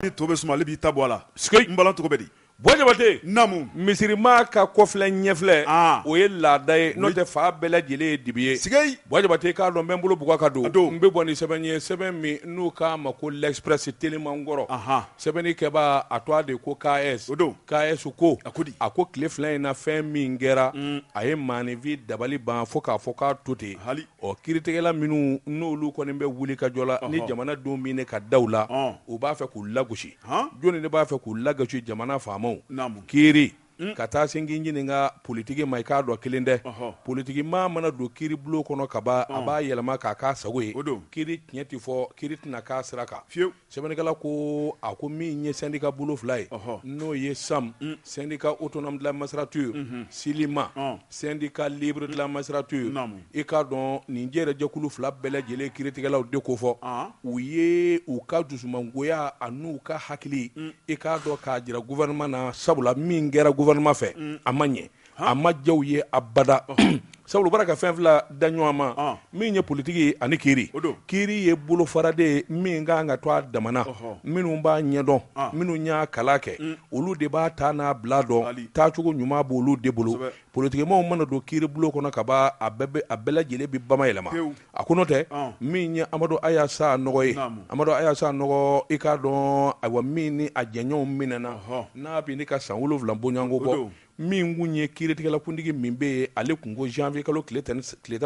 ni to bɛ suma ale b'i ta bɔ a la sike n bala cogo bɛ di bɔjabate namu misirima ka kɔfilɛ ɲɛfilɛ ah. o ye laada ye n'o tɛ fan bɛɛ lajɛlen ye dibi ye sike bɔjabate k'a dɔn n bɛ n bolo bugɔ ka don n bɛ bɔ ni sɛbɛn ye sɛbɛn min n'u k'a ma ko l'express teliman kɔrɔ sɛbɛnni kɛbaa a tɔgɔ de ko KS o don KS ko a ko di a ko tile fila in na fɛn min kɛra mm. a ye maaninfin dabali ban fo k'a fɔ k'a to ten hali Ɔ kiiritigɛla minnu n'olu kɔni bɛ wuli ka jɔ la ni jamana denw minɛ ka da u la u b'a fɛ k'u lagosi jɔnni de b'a fɛ k'u lagosi jamana faamaw kiiri ka taa sin ɲini ka politiki ma i k'a dɔn kelen dɛ politiki maa mana don kiiri bulon kɔnɔ kaban a b'a yɛlɛma k'a k'a sago ye o don kiiri tiɲɛ tɛ fɔ kiiri tɛna k'a sira kan Sɛbɛnnikɛla ko a ko min ye syndicat bolo fila ye n'o ye SAM syndicat autonome de la magistrature SYLIMA syndicat libre de la magistrature i k'a dɔn nin jɛrɛ jɛkulu fila bɛɛ lajɛlen kiiritigɛlaw de ko fɔ u ye u ka dusumangoya an'u ka hakili i k'a dɔn k'a jira gouvernement na sabula min kɛra gouvernement fɛ a ma ɲɛ a ma diya u ye abada sabu u b'a la ka fɛn fila da ɲɔgɔn ma min ye politiki ani kiiri kiiri ye bolofara de ye min ka kan ka to a dama na minnu b'a ɲɛdɔn minnu y'a kalan kɛ olu de b'a ta n'a bila dɔn taacogo ɲuman b'olu de bolo politikimaaw mana don kiiri bulon kɔnɔ ka ban a bɛɛ lajɛlen bɛ bamayɛlɛma a ko n'o tɛ min ye Amadu Aya Sanɔgɔ ye Amadu Aya Sanɔgɔ i k'a dɔn a min ni a jɛɲɔgɔnw minɛna n'a bɛ ne ka san wolonwula bɔɲɔgɔnko bɔ min kun ye kiiritigɛlakuntigi min bɛ yen ale tun ko janvier kalo tile tan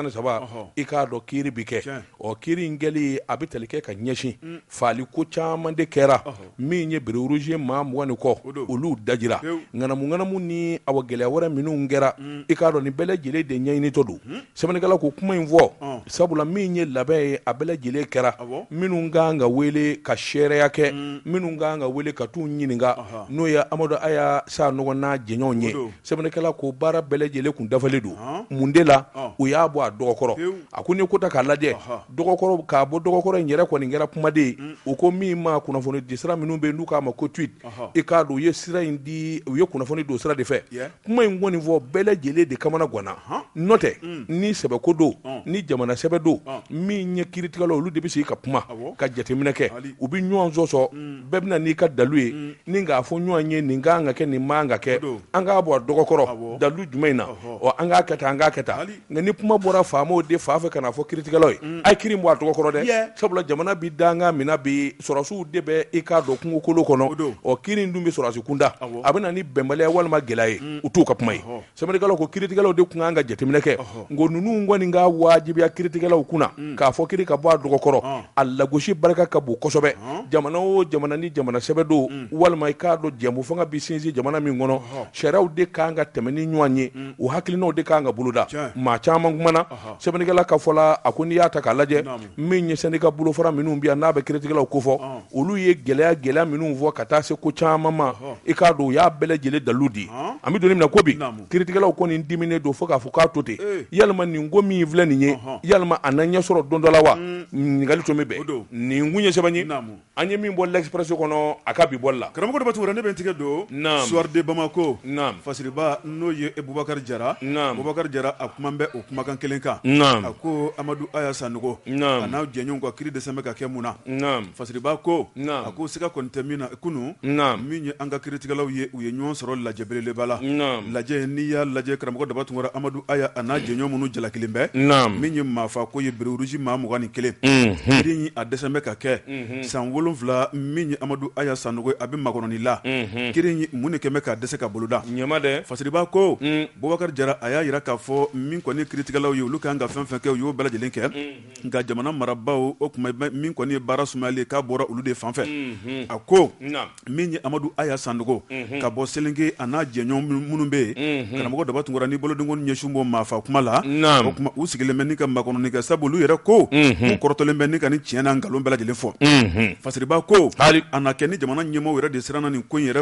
ni saba i k'a dɔn kiiri bɛ kɛ ɔ kiiri in kɛli a bɛ tali kɛ ka ɲɛsin faali ko caman de kɛra min ye bérets rouges maa mugan ni kɔ olu dajira ŋanamu ŋanamu ni awa gɛlɛya wɛrɛ minnu kɛra i k'a dɔn nin bɛɛ lajɛlen de ɲɛɲinitɔ don. sɛbɛnnikɛla ko kuma in fɔ ɔn. sabula min ye labɛn ye a bɛɛ lajɛlen kɛra Awɔ. minnu ka kan ka wele ka seereya kɛ minnu ka kan ka wele ka t'u ɲininka Ɔhɔ. n'o ye Amadu Aya Sanɔgɔ n'a jɛɲɔgɔnw ye O don. sɛbɛnnikɛla ko baara bɛɛ lajɛlen kun dafalen don Ɔn. mun de la Ɔn. u y'a bɔ a dɔgɔ kɔrɔ Pewu. a ko n'i ye ko ta k'a lajɛ Ɔhɔ. dɔgɔ kɔrɔ k'a bɔ dɔgɔ kɔrɔ in yɛrɛ kɔni kɛra kumaden ye u ko min ma kunnafonidisira minnu bɛ yen n'u k'a ma ko tweet Ɔhɔ. i k'a dɔn u ye sira in di u ye kunnafoni don o sira de fɛ Yeah. kuma in kɔni fɔ bɛɛ lajɛlen de kamana ganna n'o tɛ ni sɛbɛko don ni jamana sɛbɛ don min ye kiiritigɛlaw olu de bɛ sigi ka kuma ka jateminɛ kɛ u bɛ ɲɔgɔn sɔsɔ bɛɛ bɛ na n'i ka dalu ye ni k'a fɔ ɲɔgɔn ye nin ka kan ka kɛ nin man kan ka kɛ an k'a bɔ a dɔgɔkɔrɔ dalu jumɛn in na an k'a kɛ tan an k'a kɛ tan nka ni kuma bɔra faamaw de fan fɛ k'a fɔ kiiritigɛlaw ye a ye kiiri bɔ a dɔgɔ kɔrɔ dɛ sabula jamana bɛ danga min na bi sɔrɔsiw de bɛ i k'a dɔn kungokolo kɔnɔ don o kiiri dun bɛ sɔrɔsi kunda a bɛ na ni bɛnbaliya walima gɛlɛya ye u t'u ka kuma ye sɛbɛnnikɛla ko kiiritigɛlaw de tun kan ka jateminɛ kɛ n ko ninnu kɔni k'a wajibiya kiiritigɛlaw kunna k'a fɔ kiiri ka bɔ a dɔgɔ kɔrɔ a lagosi barika ka bon kosɛbɛ jamana o jamana ni jamana sɛbɛ don walima i k'a dɔn jɛmu fanga bɛ sinsin jamana min kɔnɔ sariyaw de kan ka tɛmɛn ni ɲɔgɔn ye o hakilinaw de ka kan ka boloda Tiɲɛ. maa caman kumana sɛbɛnnikɛla ka fɔ la a ko n'i y'a ta k'a lajɛ Naamu. min ye sɛndika bolofara minnu bɛ yan n'a bɛ kiritigɛlaw ko fɔ Ɔn. olu ye gɛlɛya gɛlɛya minnu fɔ ka taa se ko caman ma Ɔhɔ. i k'a dɔn u y'a bɛɛ lajɛlen dalilu di Ɔn. an bɛ don min na ko bi Naamu. kiritigɛlaw kɔni diminen don fo k'a fɔ k'a to ten Ee. yalima nin ko min filɛ nin ye Ɔhɔ. yalima a na ɲɛsɔrɔ don dɔ la wa ɲininkali tun bɛ bɛn o don. nin kun ye sɛbɛn ye Naamu. An ye min bɔ L'Express kɔnɔ a ka bi bɔli la. Karamɔgɔ Daba Tunkara ne bɛ n tigɛ don. Naamu! Soir de Bamako. Naamu! Fasiriba n'o ye Bubakari Jara. Naamu! Bubakari Jara a kuman bɛ o kumakan kelen kan. Naamu! A ko Amadu Aya Sanogo. Naamu! A n'a jɛɲɔgɔnw ka kiri dɛsɛn bɛ ka kɛ mun na? Naamu! Fasiriba ko. Naamu! A ko siga kɔni tɛ min na kunu. Naamu! Min ye an ka kiritigɛlaw ye. u ye ɲɔgɔn sɔrɔ lajɛ belebeleba la lajɛ n'i y'a lajɛ karamɔgɔ daba tunkara amadu aya a n'a jɛɲɔgɔn minnu jalakilen bɛ min ye maafa ko ye bérets rouges maa mugan ni kelen kiiri in a dɛsɛn bɛ ka kɛ san wolonwula min ye amadu aya sanogo ye a bɛ makɔnɔni la kiiri in mun de kɛmɛ ka dɛsɛ ka boloda ɲɛma dɛ fasiriba ko bubakari jara a y'a jira k'a fɔ min kɔni ye kiiritigɛlaw ye olu ka kan ka fɛn fɛn kɛ u y'o bɛɛ lajɛlen kɛ nka jamana marabaaw o tuma min kɔni ye baara sumayali k'a bɔra olu de fan fɛ a ko min ye amadu aya sanogo ka bɔ selenge a n'a jɛɲɔgɔn minnu bɛ yen karamɔgɔ daba tunkara ni boloden ko ɲɛsin bɛ maafa kuma la o tuma u sigilen bɛ ka makɔnɔni kɛ sabu olu yɛrɛ ko u kɔrɔtɔlen bɛ ni ka nin tiɲɛ n'a nkalon bɛɛ lajɛlen fɔ fasiriba ko a na kɛ ni jamana ɲɛmɔgɔ yɛrɛ de siranna nin ko yɛrɛ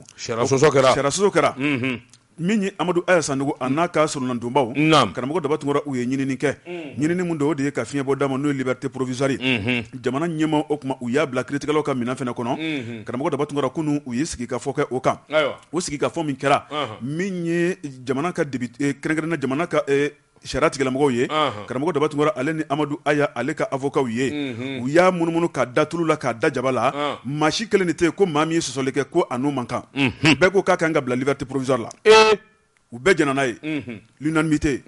kɛra min ye amadu aya sanogo a n'a ka solonadonbaw karamɔgɔ daba tunkara u ye ɲinini kɛ ɲinini min don o de ye ka fiɲɛ bɔ d'a ma n'o ye liberté provisoire ye jamana ɲɛmaaw o tuma u y'a bila kiiritigɛlaw ka minɛn fana kɔnɔ karamɔgɔ daba tunkara kunun u ye sigi ka fɔ kɛ o kan o sigi ka fɔ min kɛra min ye jamana ka kɛrɛnkɛrɛnna jamana sariya tigilamɔgɔw ye karamɔgɔ daba tunkara ale ni amadu aya ale ka avokaw ye u y'a munumunu k'a da tulu la k'a da jaba la maa si kelen de tɛ yen ko maa min ye sɔsɔli kɛ ko a n'u man kan bɛɛ ko k'a ka kan ka bila liberté provisoire la u bɛɛ jɛnna n'a ye l'unanimité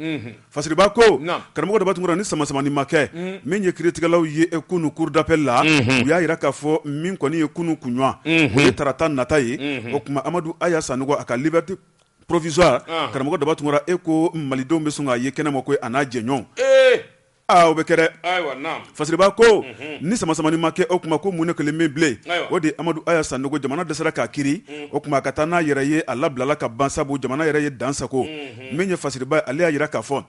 fasiriba ko karamɔgɔ daba tunkara ni sama samani ma kɛ min ye kiiritigɛlaw ye kunun cour d'appel la u y'a jira k'a fɔ min kɔni ye kunun kunɲɔgɔn o ye tarata nata ye o tuma amadu aya sanogo a ka liberté provisoire karamɔgɔ daba tunkara e ko malidenw bɛ sɔn k'a ye kɛnɛ ma ko a n'a jɛɲɔgɔnw o bɛ kɛ dɛ fasiriba ko ni samasamani ma kɛ o tuma ko mun ne kelen min bilen o de amadu aya sanogo jamana dɛsɛra k'a kiiri o tuma a ka taa n'a yɛrɛ ye a labilala ka ban sabu jamana yɛrɛ ye dansago min ye fasiriba ale y'a jira k'a fɔ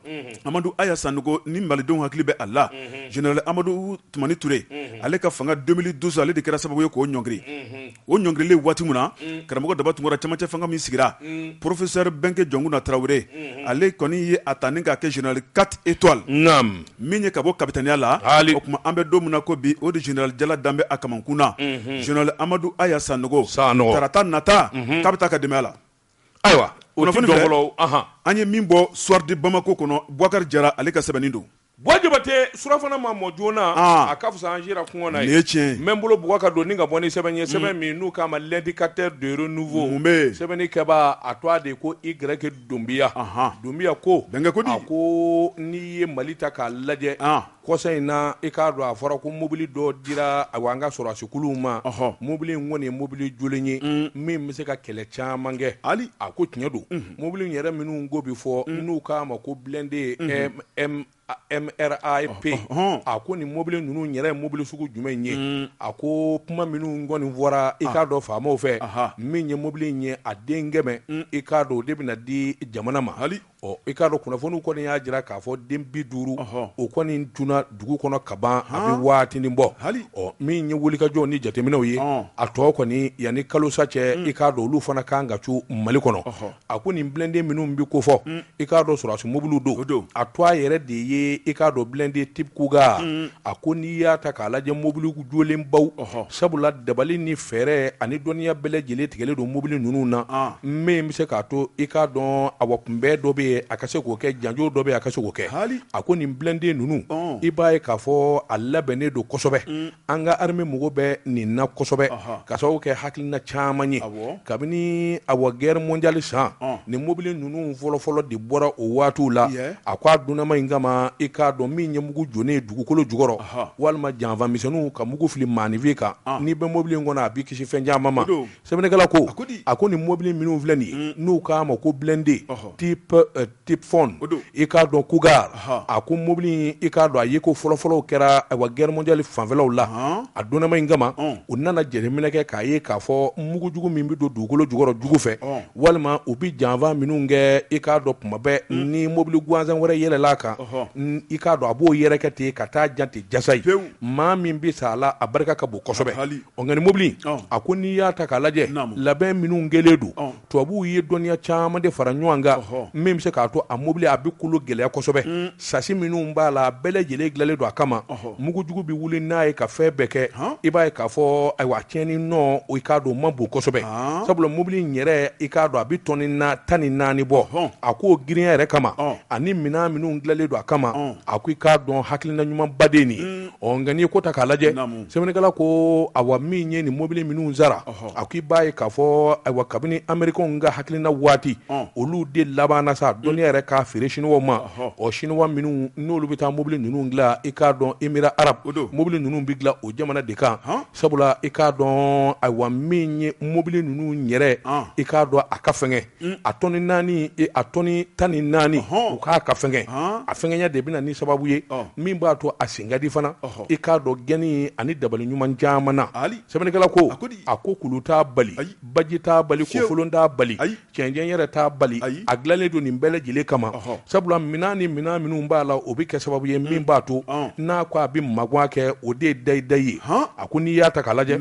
amadu aya sanogo ni malidenw hakili bɛ a la general amadu tumani ture ale ka fanga 2012 ale de kɛra sababu ye k'o ɲɔngiri o ɲɔngirili waati min na mm. karamɔgɔ daba tunkara cɛmancɛ fanga min sigira mm. professeur bɛnkɛ jɔnkuna tarawele mm-hmm. ale kɔni ye a ta ni k'a kɛ general 4 étoiles naam min ye ka bɔ kapitaniya la o tuma an bɛ don min na ko bi o de general jala dalen bɛ a kamankun na mm-hmm. general amadu aya sanogo tarata nata mm-hmm. k'a bɛ taa ka dɛmɛ a la ayiwa kunnafoni fɛ an ye min bɔ soir de bamako kɔnɔ bubakari jara ale ka sɛbɛnni don Bɔ jabatɛ surafana ma mɔ joona a ka fisa an sira kɔngɔ na ye tiɲɛ n bolo bɛ ka don ni ka bɔ ni sɛbɛn ye sɛbɛn min n'u k'a ma l'indicateur du renouveau sɛbɛnnikɛba a tɔgɔ de ko i grec dunbiya dunbiya ko a ko n'i ye mali ta k'a lajɛ kɔsa in na i k'a dɔn a fɔra ko mobili dɔ dira a an ka sɔrɔdasikuluw ma mobili in kɔni ye mobili jolen ye min bɛ se ka kɛlɛ caman kɛ hali a ko tiɲɛ don mobili yɛrɛ minnu ko bɛ fɔ n'u k'a ma ko blindé mrap a ko nin mɔbili ninnu yɛrɛ ye mobili sugu jumɛn ye a ko kuma minnu kɔni fɔra i k'a dɔn faamaw fɛ min ye mobili in ye a den kɛmɛ i k'a dɔn o de bɛna di jamana ma hali i k'a dɔn kunnafoniw kɔni y'a jira k'a fɔ den bi duuru o kɔni j dugu kɔnɔ kaban a bɛ waatinin bɔ hali min ye wulikajɔw ni jateminɛw ye a tɔ kɔni yanni kalosa cɛ i k'a dɔn olu fana kan ka cun mali kɔnɔ a ko nin blindé minnu bɛ ko fɔ i k'a dɔn sɔrɔdasi mobili don a tɔgɔ yɛrɛ de ye i k'a dɔn blindé type cougar a ko n'i y'a ta k'a lajɛ mobili jolenbaw sabula dabali ni fɛɛrɛ ani dɔnniya bɛɛ lajɛlen tigɛlen don mobili ninnu na min bɛ se k'a to i k'a dɔn a wa kunbɛn dɔ bɛ yen a ka se k'o kɛ janjo dɔ bɛ yen a ka se k'o kɛ a ko nin blindé ninnu i b'a ye k'a fɔ a labɛnnen don kosɛbɛ an ka armée mago bɛ nin na kosɛbɛ ka sababu kɛ hakilina caman ye kabini a wa guerre mondiale san ni mobili ninnu fɔlɔfɔlɔ de bɔra o waatiw la a ko a dilanna mine kama i k'a dɔn min ye mugu donnen dugukolo jukɔrɔ walima janfa misɛnninw ka mugu fili maaninfin kan n'i bɛ mɔbili in kɔnɔ a b'i kisi fɛn caman ma sɛbɛnnikɛla ko a ko nin mɔbili minnu filɛ nin n'u k'a ma ko blindé typhoon i k'a dɔn cougar a ko mɔbili i k'a dɔn a yeko fɔlɔfɔlɔw kɛra a wa guerre mondiale fanfɛlaw la a dilanna mine kama u nana jateminɛ kɛ k'a ye k'a fɔ mugujugu min bɛ don dugukolo jukɔrɔ jugu fɛ walima u bɛ janfa minnu kɛ i k'a dɔn tuma bɛɛ ni mobili gansan wɛrɛ yɛlɛl'a kan i k'a dɔn a b'o yɛrɛkɛ ten ka taa jan ten jasa ye maa min bɛ sa a la a barika ka bon kosɛbɛ nka nin mobili a ko n'i y'a ta k'a lajɛ labɛn minnu kɛlen don tubabuw ye dɔnniya caman de fara ɲɔgɔn kan min bɛ se k'a to a mobili a bɛ kolo gɛlɛya kosɛbɛ Sasi minnu b'a la bɛɛ lajɛlen dilanlen don a kama mugujugu bɛ wuli n'a ye ka fɛn bɛɛ kɛ i b'a ye k'a fɔ ayiwa tiɲɛni nɔ i k'a dɔn ma bon kosɛbɛ sabula mobili in yɛrɛ i k'a dɔn a bɛ tɔni na tan ni naani bɔ a k'o girinya yɛrɛ kama ani minɛn minnu dilanlen don a kama a ko i k'a dɔn hakilina ɲumanba de nin Ɔ nka n'i ye ko ta k'a lajɛ sɛbɛnnikɛla ko awa min ye nin mobili minnu sara a ko i b'a ye k'a fɔ ayiwa kabini amerikɛnw ka hakilina waati olu de labanna sa dɔnniya yɛrɛ k'a feere siniwaw ma o siniwa minnu n'olu bɛ taa mobili ninnu dilan i k'a dɔn emira arabu mobili ninnu bɛ dilan o jamana de kan sabula i k'a dɔn ayiwa min ye mobili ninnu yɛrɛ i k'a dɔn a ka fɛn un, a tɔni naani e, a tɔni tan ni naani u k'a ka fɛngɛ a fɛngɛnya de bɛ na ni sababu ye min b'a to a sen ka di fana i k'a dɔn gɛnni ani dabali ɲuman caman na sɛbɛnnikɛla ko a ko kulu t'a bali baji t'a bali kofolon t'a bali cɛncɛn yɛrɛ t'a bali a dilanlen don nin bɛɛ lajɛlen kama sabula minɛn ni minɛn minnu b'a la o bɛ kɛ sababu ye min b'a to n'a ko a bɛ magan kɛ o de ye dayidayi ye a ko n'i y'a ta k'a lajɛ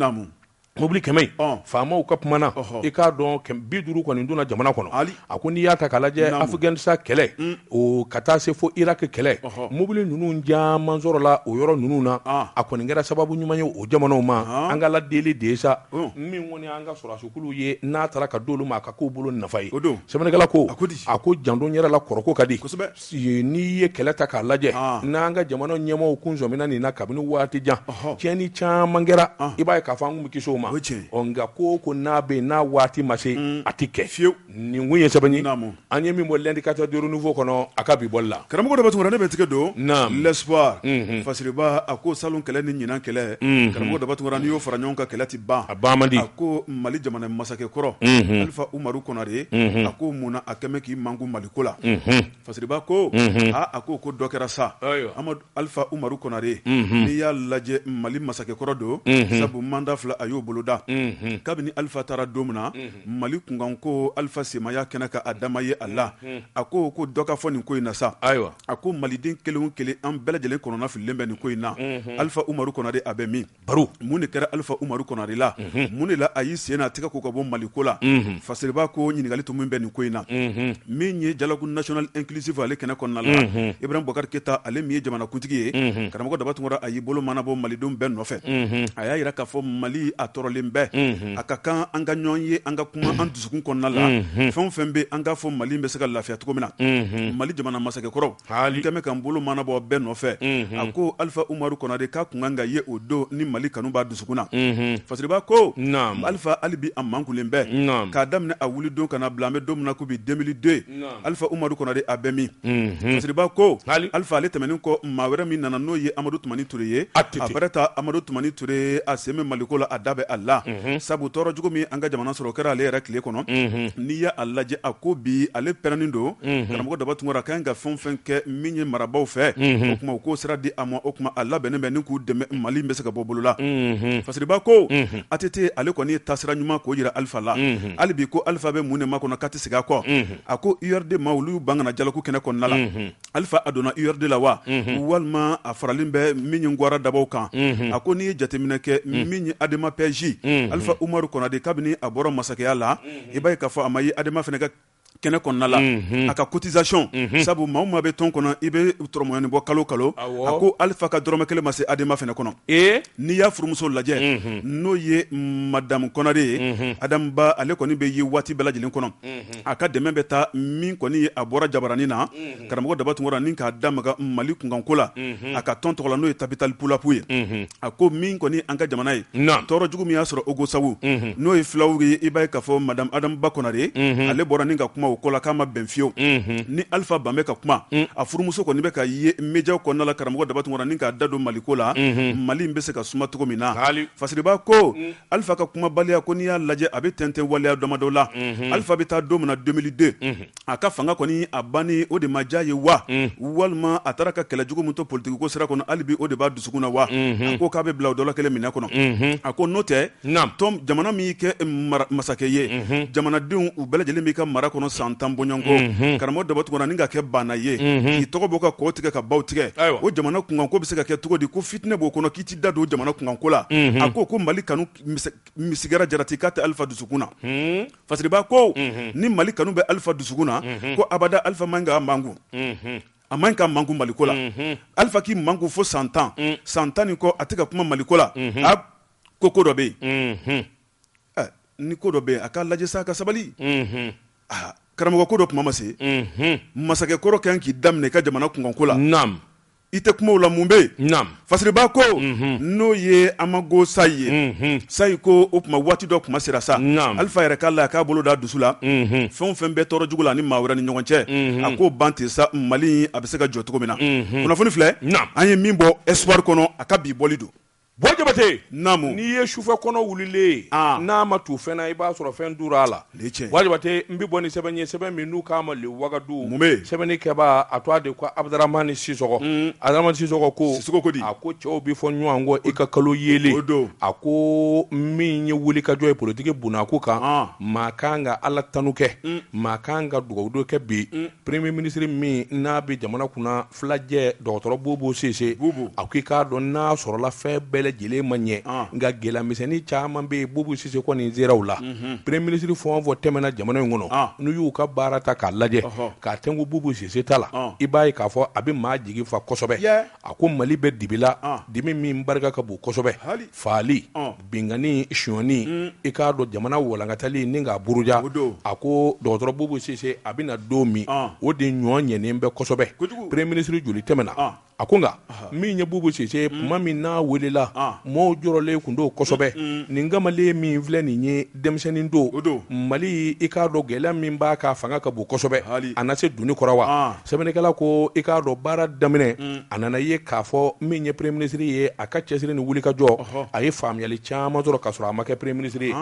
Mobili kɛmɛ faamaw ka kuma na i k'a dɔn bi duuru kɔni donna jamana kɔnɔ a ko n'i y'a ta k'a lajɛ afiganisitan kɛlɛ o ka taa se fo iraki kɛlɛ mobili ninnu caman sɔrɔla o yɔrɔ ninnu na a kɔni kɛra sababu ɲuman ye o jamanaw ma an ka ladeli de ye sa min kɔni an ka sɔrɔdasikulu ye n'a tara ka d'olu ma a ka k'u bolo nafa ye sɛbɛnnikɛla ko a ko janto yɛrɛ la kɔrɔko ka di n'i ye kɛlɛ ta k'a lajɛ n'an ka jamana ɲɛmaaw kun sɔmina nin na kabini waati jan tiɲɛni caman kɛra i b'a ye k'a fɔ an kun bɛ kisi o ma nka ko o ko n'a bɛ yen n'a waati ma se a tɛ kɛ fiyewu nin kun ye sɛbɛn ye an ye min bɔ l'indicateur du renouveau kɔnɔ a ka bi bɔli la karamɔgɔ daba tunkara ne bɛ n tigɛ don l'espoir fasiriba a ko salon kɛlɛ ni ɲinan kɛlɛ karamɔgɔ daba tunkara n'i y'o fara ɲɔgɔn kan kɛlɛ tɛ ban a ban man di a ko mali jamana masakɛ kɔrɔ alifa umaru konare a ko munna a kɛlen k'i makun mali ko la fasiriba ko aa a ko ko dɔ kɛra sa amadu alifa umaru konare n'i y'a lajɛ mali masakɛkɔrɔ don sabu manda fila a y'o boloda kabini alifa taara don min na mali kunkan ko alifa sen ma ye kɛnɛ kan a dama ye a la a ko ko dɔ ka fɔ nin ko in na sa ayiwa a ko maliden kelen o kelen an bɛɛ lajɛlen kɔnɔna fililen bɛ nin ko in na alifa umaru konare a bɛ min baro mun de kɛra alifa umaru konare la mun de la a y'i sen n'a tɛgɛ ko ka bɔ mali ko la fasiriba ko ɲininkali tun min bɛ nin ko in na min ye dialogue national inclusif ale kɛnɛ kɔnɔna la ibrahim bubakari keyita ale min ye jamanakuntigi ye karamɔgɔ daba tunkara a y'i bolo manabɔ malidenw bɛɛ nɔfɛ a y'a jira k'a fɔ mali a tɔɔrɔlen bɛ a ka kan an ka ɲɔgɔn ye an ka kuma an dusukun kɔnɔna la fɛn o fɛn bɛ an k'a fɔ mali bɛ se ka lafiya cogo min na mali jamana masakɛkɔrɔ haali kɛmɛ kan bolo manabɔ bɛɛ nɔfɛ a ko alifa umaru konare k'a kun kan ka ye o don ni mali kanu b'a dusukun na fasiriba ko alifa hali bi a mankunlen bɛ k'a daminɛ a wuli don ka na a bila an bɛ don min na ko bi 2002 alifa umaru konare a bɛ min fasiriba ko alifa ale tɛmɛnen kɔ maa wɛrɛ min nana n'o ye amadu Tumani Ture ye, ATT, Aminata Amadu Tumani Ture a sen bɛ maliko la a da bɛ a la, unhun, sabu tɔɔrɔ jugu min ye an ka jamana sɔrɔ o kɛra ale yɛrɛ tile kɔnɔ, unhun, n'i ye a lajɛ a ko bi ale pɛrɛnnen don, unhun, karamɔgɔ Daba Tunkara a ka kan ka fɛn o fɛn kɛ min ye marabaaw fɛ, unhun, o tuma u k'o sira di a ma o tuma a labɛnnen bɛ ni k'u dɛmɛ Mali in bɛ se ka bɔ bolo la, unhun, Fasiriba ko, unhun, ATT ale kɔni ye taasira ɲuman k'o jira Alifa la, unhun, hali bi ko Alifa bɛ mun de makɔnɔ k'a tɛ segin a kɔ, unhun, a ko URD maaw olu y'u ban ka na dialogue kɛnɛ kɔnɔna la, unhun. alifa a donna urd la wa mhm. walima a faralen bɛ min ye gwara dabaw kan mhm. a ko n'i ye jateminɛ kɛ mhm. min ye adema pj alifa umaru konare kabini a bɔra masakɛya la i b'a ye k'a fɔ a ma ye adema fana ka kɛnɛ kɔnɔna la a ka cotisation sabu maa o maa bɛ tɔn kɔnɔ i bɛ tɔrɔmɔyani bɔ kalo kalo a ko alifa ka dɔrɔmɛ kelen ma se adema fana kɔnɔ n'i y'a furumuso lajɛ n'o ye madamu konare ye adamu ba ale kɔni bɛ ye waati bɛɛ lajɛlen kɔnɔ a ka dɛmɛ bɛ taa min kɔni ye a bɔra jabaranin na karamɔgɔ daba tunkara ni k'a da maga mali kunkanko la a ka tɔn tɔgɔ la n'o ye tabitali pulaku ye a ko min kɔni an ka jamana ye tɔɔrɔ jugu min y'a sɔrɔ ogosagu n'o ye fulaw ye i b'a ye k'a fɔ madamu adamu ba konare ale bɔra ni ka kuma o ko la k'a ma bɛn fiyewu ni alifa ban bɛ ka kuma a furumuso kɔni bɛ ka ye médiaw kɔnɔna la karamɔgɔ daba tunkara ni k'a da don maliko la mali bɛ se ka suma cogo min na fasiriba ko Alifa ka kumabaliya ko n'i y'a lajɛ a bɛ tɛntɛn waleya damadɔ la, unhun, Alifa bɛ taa don min na 2002, unhun, a ka fanga kɔni a banni o de ma diya a ye wa, un, walima a taara ka kɛlɛ jugu min to politikiko sira kɔnɔ hali bi o de b'a dusukun na wa, unhun, a ko k'a bɛ bila o dɔ la kelen minɛ kɔnɔ, unhun, a ko n'o tɛ, naamu, tɔn jamana min y'i kɛ masakɛ ye, unhun, jamanadenw u bɛɛ lajɛlen b'i ka mara kɔnɔ san tan bɔɲɔgɔnko, unhun, karamɔgɔ Daba Tunkara ni ka kɛ baana ye, unhun, k'i tɔgɔ bɔ ka kɔw tigɛ ka baw tigɛ, ayiwa, o jamana kunkanko bɛ se ka kɛ cogo di ko fitinɛ b'o kɔnɔ k'i tɛ da don jamana kunkanko la a ko ko mali kanu misikala jarati k'a tɛ alifa dusukun na fasiriba ko ni mali kanu bɛ alifa dusukun na ko abada alifa man ka mankun a man ka mankun maliko la alifa k'i mankun fo san tan san tan ni kɔ a tɛ ka kuma maliko la a ko ko dɔ bɛ yen ni ko dɔ bɛ yen a k'a lajɛ sa ka sabali karamɔgɔ ko dɔ tuma ma se masakɛ kɔrɔ kan k'i da minɛ i ka jamana kunkanko la i tɛ kumaw la mun bɛ yen fasiriba ko n'o ye Amago Sayi ye Sayi ko o tuma waati dɔ kuma sera sa Alifa yɛrɛ k'a la k'a bolo da dusu la fɛn o fɛn bɛ tɔɔrɔ jugu la ni maa wɛrɛ ni ɲɔgɔn cɛ a k'o ban ten sa Mali a bɛ se ka jɔ cogo min na kunnafoni filɛ an ye min bɔ Espoir kɔnɔ a ka bi bɔli don Boy Jabate naamu n'i ye sufɛ kɔnɔ wulilen n'a ma tu fɛn na i b'a sɔrɔ fɛn tura a la Boy Jabate n bɛ bɔ ni sɛbɛn ye sɛbɛn min n'u k'a ma le Wagadu sɛbɛnnikɛbaa tɔgɔ de ko Abdaramani Sisɔkɔ Abdaramani Sisɔkɔ ko a ko cɛw bɛ fɔ ɲɔgɔn kɔ i ka kalo yelen a ko min ye wulikajɔ ye politiki bon a ko kan maa ka kan ka ala tanun kɛ maa ka kan ka dugawudon kɛ bi premier ministre min n'a bɛ jamana kunna filajɛ dɔgɔtɔrɔ Bubu Sise a ko i k'a dɔn n'a sɔrɔla fɛn bɛɛ lajɛlen ma ɲɛ nka gɛlɛyamisɛnnin caman bɛ yen Bubu Sise kɔni n seraw la premier ministre fɛn o fɛn tɛmɛna jamana in kɔnɔ n'u y'u ka baara ta k'a lajɛ k'a tɛnku Bubu Sise ta la i b'a ye k'a fɔ a bɛ maa jigi fa kosɛbɛ a ko Mali bɛ dibi la dimi min barika ka bon kosɛbɛ faali binkanni sonyani i k'a dɔn jamana walankatali ni k'a buruja a ko dɔgɔtɔrɔ Bubu Sise a bɛ na don min o de ɲɔgɔn ɲɛnen bɛ kosɛbɛ premier ministre joli tɛmɛna a ko nka min ye Bubu Sise tuma min n'a weelela mɔɔw jɔrɔlen kun don kosɛbɛ nin kamalen min filɛ nin ye denmisɛnnin don Mali i k'a dɔn gɛlɛya min b'a kan fanga ka bon kosɛbɛ a na se doni kɔrɔ wa Sɛbɛnnikɛla ko i k'a dɔn baara daminɛ a nana ye k'a fɔ min ye premier ministre ye a ka cɛsiri ni wulikajɔ a ye faamuyali caman sɔrɔ ka sɔrɔ a ma kɛ premier ministre ye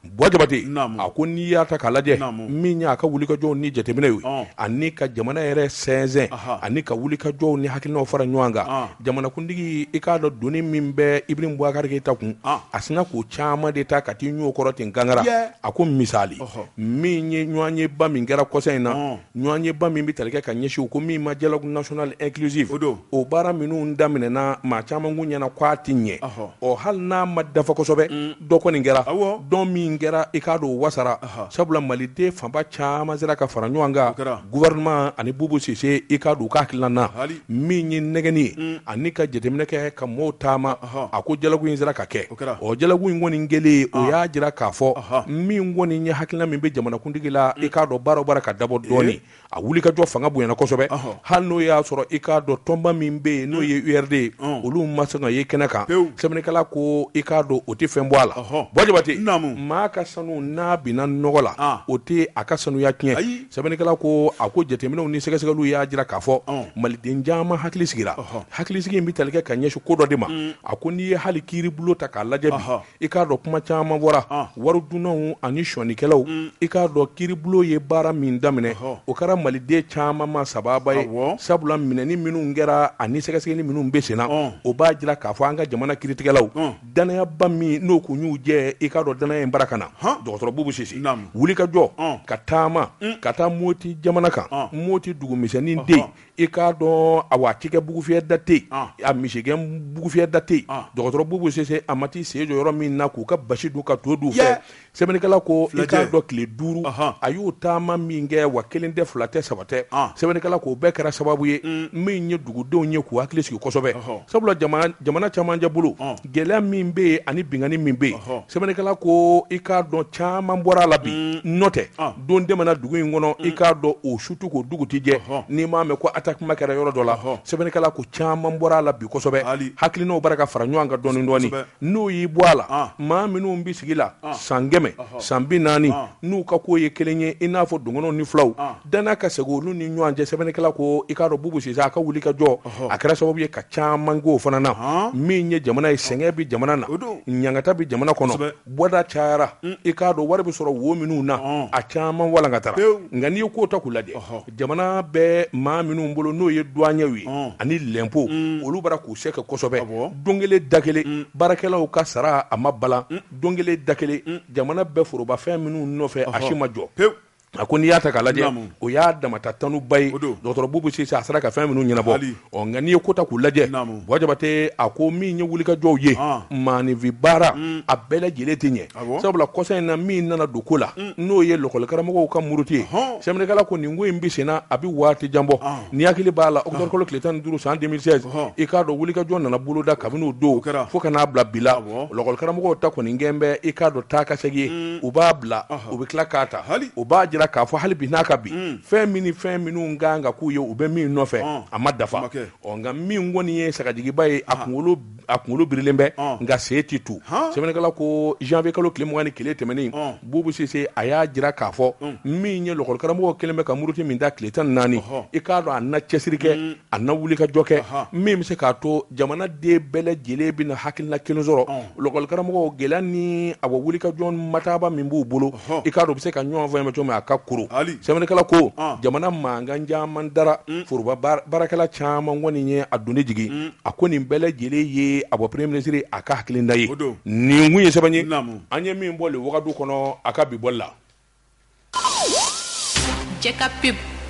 Boy Jabate a ko n'i y'a ta k'a lajɛ min y'a ka wulikajɔ ni jateminɛ ye ani ka jamana yɛrɛ sɛnsɛn ani ka wulikajɔw ni hakiliw fara ɲɔgɔn kan jamanakuntigi i k'a dɔn doni min bɛ Ibrahim Boubacar Keïta kun a sinna k'o caman de ta ka t'i ɲɔ kɔrɔ ten Gangara a ko misali min ye ɲɔgɔnyeba min kɛra kɔsa in na ɲɔgɔnyeba min bɛ tali kɛ ka ɲɛsin u ko min ma dialogue national inclusif o baara minnu daminɛna maa caman kun ɲɛna k'a tɛ ɲɛ ɔ hali n'a ma dafa kosɛbɛ dɔ kɔni kɛra dɔ min kɛra i k'a dɔn o wasara sabula maliden fanba caman sera ka fara ɲɔgɔn kan gouvernement ani Bubu Sise i k'a dɔn u ka hakilina na min ye nɛgɛnni ye ani ka jateminɛ kɛ ka mɔɔw taama a ko dialogue in sera ka kɛ o dialogue in kɔni kɛlen o y'a jira k'a fɔ min kɔni ye hakilina min bɛ jamanakuntigi la i k'a dɔn baara o baara ka dabɔ dɔɔnin a wulikajɔ fanga bonyana kosɛbɛ hali n'o y'a sɔrɔ i k'a dɔn tɔnba min bɛ yen n'o ye URD ye olu ma sɔn ka ye kɛnɛ kan sɛbɛnnikɛla ko i k'a dɔn o tɛ fɛn bɔ a la Boy Jabate maa ka sanu n'a binna nɔgɔ la o tɛ a ka sanuya tiɲɛ Sɛbɛnnikɛla ko a ko jateminɛw ni sɛgɛsɛgɛliw y'a jira k'a fɔ, ɔn, maliden caman hakili sigira, ɔhɔ, hakilisigi in bɛ tali kɛ ka ɲɛsin ko dɔ de ma, un, a ko n'i ye hali kiiribulon ta k'a lajɛ bi, ɔhɔ, i k'a dɔn kuma caman bɔra, ɔn, waridunnaw ani sonyɛnikɛlaw, un, i k'a dɔn kiiribulon ye baara min daminɛ, ɔhɔ, o kɛra maliden caman ma sababa ye, awɔ, sabula minɛni minnu kɛra ani sɛgɛsɛgɛli minnu bɛ senna, ɔn, o b'a jira k'a fɔ an ka jamana kiiritigɛlaw, ɔn danayaba min n'o kun y'u jɛ i k'a dɔn danaya in bara ka na dɔgɔtɔrɔ Bubu Sise wuli ka jɔ ka taama ka taa Moti jamana kan Moti dugumisɛnnin den i k'a dɔn a wa a cikɛ bugufyɛ da tɛ a misigɛn bugufyɛ da tɛ dɔgɔtɔrɔ Bubu Sise a ma t'i sen jɔ yɔrɔ min na k'u ka basi dun ka to dun u fɛ sɛbɛnnikɛla ko i Filajɛ. k'a dɔn tile duuru Ahan. a y'o taama min kɛ wa kelen tɛ fila tɛ saba tɛ Ah. sɛbɛnnikɛla ko o bɛɛ kɛra sababu ye min ye dugudenw ye k'u hakili sigi kosɛbɛ Ɔhɔ. sabula jamana camancɛ bolo Ɔn. gɛlɛya min bɛ yen ani binkanni min bɛ yen Ɔhɔ. sɛbɛnnikɛla ko i k'a dɔn caman bɔra a la bi n'o tɛ Ah. don tɛmɛna dugu in kɔnɔ i k'a dɔn o su tɛ ko dugu tɛ jɛ Ɔhɔ. n'i m'a mɛn ko atakima kɛra yɔrɔ dɔ la Ɔhɔ. sɛbɛnnikɛla ko caman bɔra a la bi kosɛbɛ Hali. hakilinaw bara ka fara ɲɔgɔn kan dɔɔni dɔɔni Kosɛbɛ. n'o y'i bɔ a la maa minnu bɛ sigi la san kɛmɛ san bi naani n'u ka ko ye kelen ye i n'a fɔ dɔgɔnɔw ni fulaw danaya ka segin olu ni ɲɔgɔn cɛ sɛbɛnnikɛla ko i k'a dɔn Bubu Sise a ka wuli ka jɔ a kɛra sababu ye ka caman k'o fana na min ye jamana ye sɛgɛn bɛ jamana na ɲangata bɛ jamana kɔnɔ bɔda cayara i k'a dɔn wari bɛ sɔrɔ wo minnu na a caman walankatara nka n'i ye ko ta k'u lajɛ jamana bɛ maa minnu bolo n'o ye duwanyew ye ani lɛnpo olu bara k'u se kɛ kosɛbɛ don kelen da kelen baarakɛlaw ka sara a ma balan don kelen da kelen jamana bɛ forobafɛn minnu nɔfɛ a si ma jɔ pewu a ko n'i y'a ta k'a lajɛ o y'a damata tanuba ye dɔgɔtɔrɔ Bubu Sise a sera ka fɛn minnu ɲɛnabɔ Ɔ nka n'i ye ko ta k'u lajɛ Boy Jabate a ko min ye wulikajɔw ye maaninfin baara a bɛɛ lajɛlen tɛ ɲɛ sabula kɔsa in na min nana don ko la n'o ye lɔkɔlikaramɔgɔw ka muruti ye sɛbɛnnikɛla ko nin ko in bɛ senna a bɛ waati jan bɔ n'i hakili b'a la octobre kalo tile tan duuru san deux mille seize i k'a dɔn wulikajɔ nana boloda kabini o don fo ka n'a bila bi la lɔkɔlikaramɔgɔw ta kɔni kɛlen bɛ i k'a dɔn taa ka segin ye u b'a bila u bɛ tila k'a ta o b'a jira k'a fɔ hali bi n'a ka bi fɛn min ni fɛn minnu kan ka k'u ye u bɛ min nɔfɛ a ma dafa nka min kɔni ye sagajigiba ye a kunkolo birilen bɛ nka se tɛ tu sɛbɛnnikɛla ko janvier kalo tile mugan ni kelen tɛmɛnen Bubu Sise a y'a jira k'a fɔ min ye lɔkɔlikaramɔgɔw kɛlen bɛ ka muruti min da tile tan naani i k'a dɔn a na cɛsiri kɛ a na wuli ka jɔ kɛ min bɛ se k'a to jamanaden bɛɛ lajɛlen bɛna hakilina kelen sɔrɔ lɔkɔlikaramɔgɔw gɛlɛya ni a wulikajɔ mataba min b'u bolo i k'a dɔn u bɛ se ka ɲɔgɔn faamu cogo min a ka kuru sɛbɛnnikɛla ko jamana mankan caman dara foroba baarakɛla caman kɔni ye a doni jigin a ko nin bɛɛ lajɛlen ye a bɔ premier ministre a ka hakilinata ye nin kun ye sɛbɛn ye an ye min bɔ le Wagadu kɔnɔ a ka bi bɔli la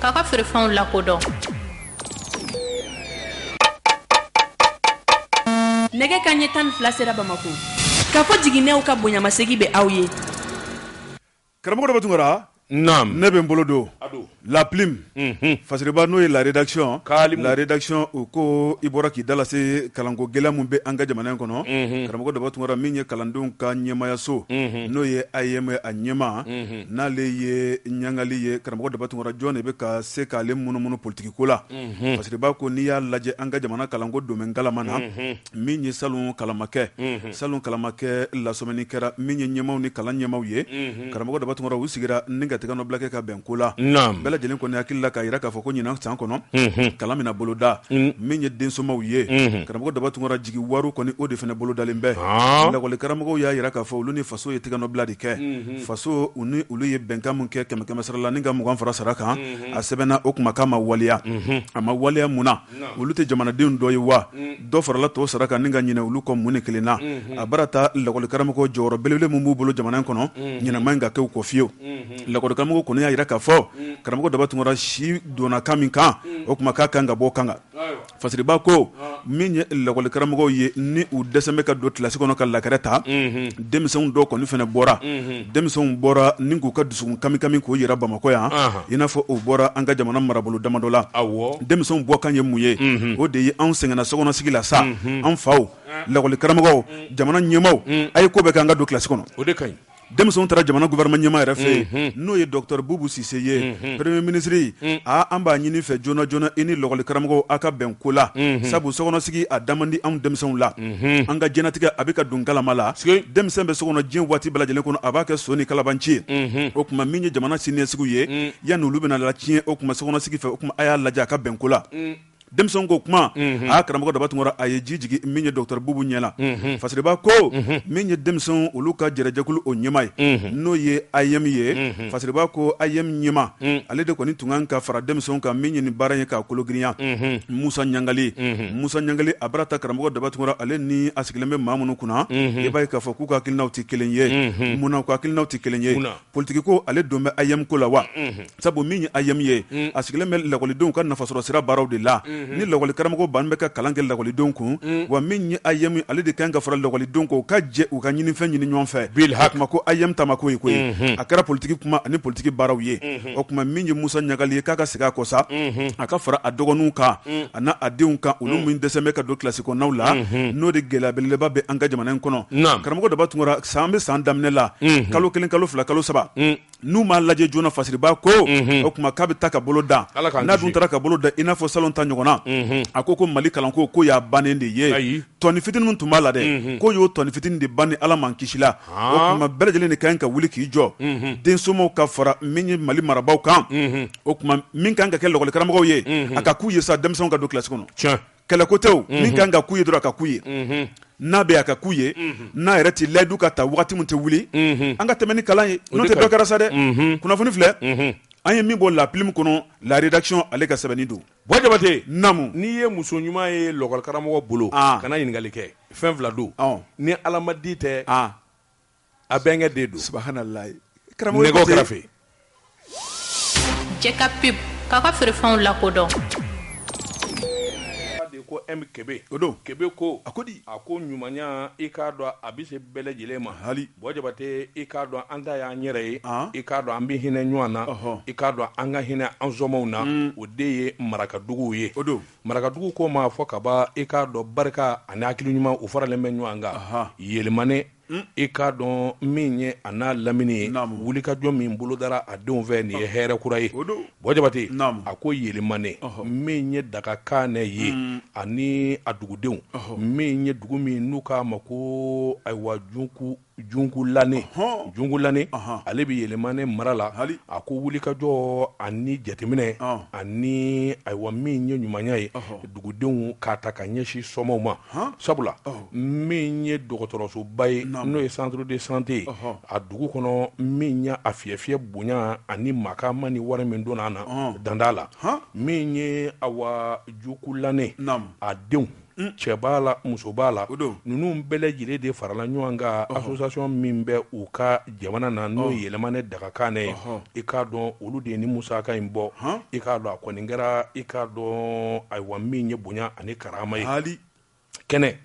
k'a ka feerefɛnw lakodɔn nɛgɛ kanɲɛ tan ni fila sera bamakɔ Kafo Jiginɛw ka bonyamasegi bɛ aw ye karamɔgɔ Daba Tunkara naam ne bɛ n bolo don la plume mhm. fasiriba n'o ye la rédaction la rédaction u ko i bɔra k'i da lase kalanko gɛlɛya min bɛ an ka jamana in kɔnɔ mhm. karamɔgɔ Daba Tunkara min ye kalandenw ka ɲɛmayaso mhm. n'o ye AEM a ɲɛmaa n'ale ye Ɲangali ye karamɔgɔ Daba Tunkara jɔn de bɛ ka se k'ale munumunu politikiko la Fasiriba ko n'i y'a lajɛ an ka jamana kalanko donnen galama na min ye salon kalan ma kɛ salon kalan ma kɛ lasɔmini kɛra min ye ɲɛmaaw ni kalan ɲɛmaaw ye karamɔgɔ Daba Tunkara u sigira ni ka tigɛnɔbila kɛ ka bɛn ko la bɛɛ lajɛlen kɔni hakili la k'a jira k'a fɔ ko ɲinan san kɔnɔ kalan bɛna boloda min ye densomaw ye karamɔgɔ Daba Tunkara jigi wari kɔni o de fana bolodalen bɛ lakɔli karamɔgɔw y'a jira k'a fɔ olu ni faso ye tigɛnɔbila de kɛ faso u ni olu ye bɛnkan min kɛ kɛmɛ kɛmɛ sara la ni ka mugan fara sara kan a sɛbɛnna o kuma k'a ma waleya a ma waleya mun na olu tɛ jamanadenw dɔ ye wa dɔ farala tɔw sara kan ni ka ɲinɛ olu kɔ mun ni kelen na a bara ta lakɔlikaramɔgɔ jɔyɔrɔ belebele min b'u bolo jamana in kɔnɔ ɲinɛ man ɲi ka kɛ u kɔ fiyewu lakɔlikaramɔgɔw kɔni y'a jira k'a fɔ karamɔgɔ Daba Tunkara si donna kan min kan o kuma k'a kan ka bɔ kan Fasiriba ko min ye lakɔlikaramɔgɔw ye ni u dɛsɛlen bɛ ka don kilasi kɔnɔ ka la craie ta denmisɛnw dɔw kɔni fana bɔra denmisɛnw bɔra ni k'u ka dusukun kami kami k'o jira bamakɔ yan i n'a fɔ u bɔra an ka jamana marabolo damadɔ la denmisɛnw bɔ kan ye mun ye o de ye anw sɛgɛnna sokɔnɔsigi la sa an faw lakɔli karamɔgɔw jamana ɲɛmaaw a ye ko bɛɛ kɛ an ka don kilasi kɔnɔ o de ka denmisɛnw taara jamana gouvernement ɲɛmaa yɛrɛ fɛ yen mhm. n'o ye docteur Boubou Cisse ye mhm. premier ministre mhm. aa an b'a ɲini i fɛ joona joona i ni lɔgɔli karamɔgɔw aw ka bɛn ko la sabu sokɔnɔsigi a da man di anw denmisɛnw la an ka diɲɛnatigɛ a bɛ ka don galama la denmisɛn bɛ sokɔnɔ diɲɛ waati bɛɛ lajɛlen kɔnɔ a b'a kɛ son ni kalabanci ye o kuma min ye jamana siniɲɛsigiw ye yanni olu bɛna latiɲɛ o kuma sokɔnɔsigi fɛ o kuma a y'a lajɛ a ka bɛn ko la denmisɛnw ko kuma a karamɔgɔ Daba Tunkara a ye ji jigin min ye docteur Boubou ɲɛ la Fasiriba ko min ye denmisɛn olu ka yɛrɛ jɛkulu o ɲɛmaa ye n'o ye AEM ye Fasiriba ko AEM ɲɛmaa ale de kɔni tun kan ka fara denmisɛnw kan min ye nin baara ye k'a kologirinya Musa Ɲangali Musa Ɲangali a bara ta karamɔgɔ Daba Tunkara ale ni a sigilen bɛ maa minnu kunna i b'a ye k'a fɔ k'u ka hakilinaw tɛ kelen ye munna u ka hakilinaw tɛ kelen ye politiki ko ale don bɛ AEEM ko la wa? Unhun. Sabu min ye AEEM ye, un, a sigilen bɛ lakɔlidenw ka nafasɔrɔsira baaraw de la. Unhun. Ni lakɔlikaramɔgɔ bannen bɛ ka kalan kɛ lakɔlidenw kun, un, wa min ye AEEM ale de ka kan ka fara lakɔlidenw kan u ka jɛ u ka ɲinifɛn ɲini ɲɔgɔn fɛ. Bilhak. O kuma ko AEEM ta ma ko ye koyi. Unhun. A kɛra politiki kuma ani politiki baaraw ye. Unhun. O kuma min ye Musa Ɲangali ye k'a ka segin a kɔ sa, unhun, a ka fara a dɔgɔninw kan. mm. a n'a denw kan olu mm. min dɛsɛ bɛ ka don kilasi kɔnɔnaw la mm-hmm. n'o de gɛlɛya belebeleba bɛ an ka jamana in kɔnɔ karamɔgɔ daba tunkara san bɛ san daminɛ la mm-hmm. kalo kelen kalo fila kalo saba mm. n'u m'a lajɛ joona fasiribaa ko mm-hmm. o kuma k'a bɛ taa ka bolo da n'a dun taara ka bolo da i n'a fɔ salon ta ɲɔgɔnna a ko ko mali kalanko ko y'a bannen de ye tɔni fitini min tun b'a la dɛ ko y'o tɔni fitini de ban ni ala m'an kisi la ah. o kuma bɛɛ lajɛlen de kan ka wuli k'i jɔ densomaw ka fara min ye mali marabaaw kan o kuma min kan ka kɛ lakɔli karamɔgɔw ye a ka k'u ye sa denmisɛnw ka don kilasi kɔnɔ kɛlɛkotɛw min kan ka k'u ye dɔrɔn a ka k'u ye n'a bɛ a ka k'u ye n'a yɛrɛ tɛ layidu ka ta wagati min tɛ wuli an ka tɛmɛ ni kalan ye n'o tɛ dɔ kɛra sa dɛ kunnafoni filɛ an ye min bɔ la plume kɔnɔ la rédaction ale ka sɛbɛnni don bɔ jabate namu n'i ye muso ɲuman ye lakɔli karamɔgɔ bolo kana ɲininkali kɛ fɛn fila don ni alamadi tɛ a bɛnkɛ den don subahanallahi karamɔgɔ nɛgɛw kɛrɛfɛ jeka pub k'a ka feerefɛnw lakodɔn de ko M Kebe o don Kebe ko a ko di a ko ɲumanya i k'a dɔn a bɛ se bɛɛ lajɛlen ma hali bɔ jabate i k'a dɔn an ta y'an yɛrɛ ye i k'a dɔn an bɛ hinɛ ɲɔgɔn na i k'a dɔn an ka hinɛ an sɔmɔw na o de ye marakaduguw ye o don marakadugu ko ma fɔ ka ban i k'a dɔn barika ani hakili ɲuman u faralen bɛ ɲɔgɔn kan yelimane i k'a dɔn min ye a n'a lamini ye wulikajɔ min bolo dara a denw fɛ nin ye hɛrɛ kura ye bɔ jabate a ko yelimane min ye dagakane ye ani a dugudenw min ye dugu min n'u k'a ma ko ayiwa jungulane ale bɛ yelimane mara la a ko wulikajɔ ani jateminɛ ani ayiwa min ye ɲumanya ye dugudenw k'a ta ka ɲɛsin sɔmɔw ma sabula min ye dɔgɔtɔrɔsoba ye n'o ye centre de santé ye a dugu kɔnɔ min ye a fiyɛ fiyɛ bonya ani makama ni wari min donna a na danda la min ye awa jungulane a denw cɛ b'a la muso b'a la ninnu bɛɛ lajɛlen de farala ɲɔgɔn kan association min bɛ u ka jamana na n'o ye yelimane dagakane ye i k'a dɔn olu de ye nin musaka in bɔ i k'a dɔn a kɔni kɛra i k'a dɔn ayiwa min ye bonya ani karama ye hali kɛnɛ